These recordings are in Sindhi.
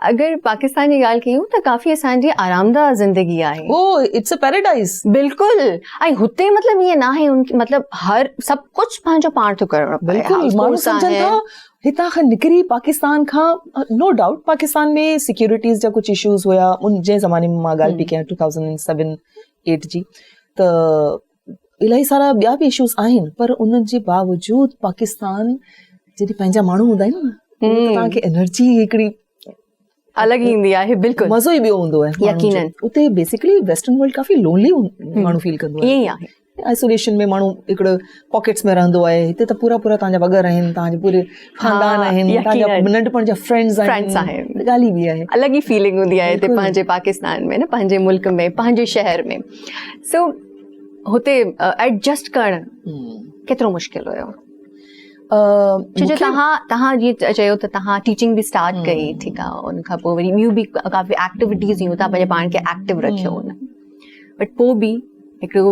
اگر پاڪستان جي ڳالهه ڪيون ته ڪافي اسان جي آرامده زندگي آهي. Oh it's a paradise. بلڪل ۽ هتي مطلب ائين ناهي مطلب هر سڀ ڪجهه پنهنجو پاڻ ٿو ڪرڻو پوي. بلڪل ماڻهو سمجهن ٿا هتان کان نڪري پاڪستان کان نو ڊائوٽ پاڪستان ۾ سيڪيورٽيز جا ڪجهه اشوز هيا ان جي زماني مان مان ڳالهه پي ڪيان ٽو ٿائوزنڊ سيون ايٽ جي ته الائي سارا ٻيا به اشوز آهن پر ان جي باوجود پاڪستان جڏهن پنهنجا ماڻهو هوندا آهن نه تنهن کي انرجي هڪڙي الڳ ايندي آهي بلڪل مزو ئي ٻيو هوندو آهي يقينن اتي بيسيڪلي ويسٽرن ورلڊ ڪافي لونلي ماڻهو فيل ڪندو آهي ائين آهي آئسوليشن ۾ ماڻهو هڪڙو پاڪيٽس ۾ رهندو آهي هتي ته پورا پورا تنهنجا وڳا رهن تنهنجي پوري خاندان آهن ننڍپڻ جا فرينڊز آهن ڳالهه ئي ٻي آهي الڳ ئي فيلنگ هوندي آهي هتي پنهنجي پاڪستان ۾ نه پنهنجي ملڪ ۾ پنهنجي شهر ۾ سو هتي ايڊجسٽ ڪرڻ ڪيترو مشڪل هيو جو تها تها جي چيو ته تها ٽيچنگ به اسٽارٽ ڪئي ٺيڪ آ ان کان پوء وري ٻيون به ڪافي ايڪٽيوٽيز هيون ته پنهنجي پاڻ کي ايڪٽيو رکيو هن بٽ پوء به هڪڙو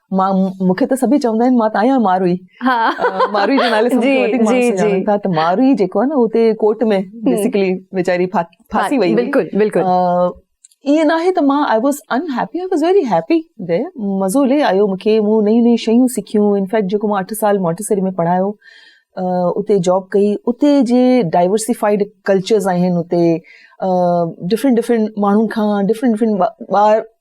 مان مون کي ته سڀئي چوندا آهن مان ته آهيان ماروئي ماروئي جو نالو سڀ کان وڌيڪ ماڻهو سڃاڻن ٿا ته ماروئي جيڪو آهي نه هو اتي ڪورٽ ۾ بيسڪلي ويچاري ڦاسي وئي بلڪل بلڪل ائين نه آهي ته مان I was in happy I was very happy دي مزو لي آيو مون کي مون نيون نيون شيون سکيون انفيڪٽ جيڪو مان اٺ سال مونٽيسري ۾ پڙهايو اتي جاب ڪئي اتي جي ڊائورسيفائيڊ ڪلچرز آهن اتي ڊفرنٽ ڊفرنٽ ماڻهن کان ڊفرنٽ ڊفرنٽ ٻار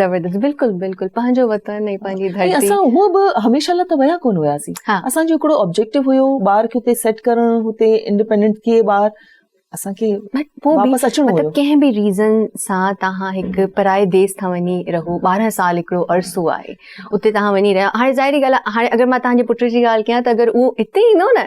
زبردست بلڪل بلڪل پنهنجو وطن ۽ پنهنجي ڌرتي ۽ اسان هو به هميشه لاء ته ويا ڪونه هياسين اسان جو هڪڙو آبجيڪٽو هيو ٻار کي هتي سيٽ ڪرڻ هتي انڊيپينڊنٽ ٿئي ٻار اسان کي واپس اچڻو هيو مطلب ڪنهن به ريزن سان توهان هڪ پرائي ديس ٿا وڃي رهو 12 سال هڪڙو عرصو آهي اتي توهان وڃي رهيا هاڻي ظاهري ڳالهه آهي هاڻي اگر مان توهان جي پٽ جي ڳالهه ڪيان ته اگر هو هتي ايندو نه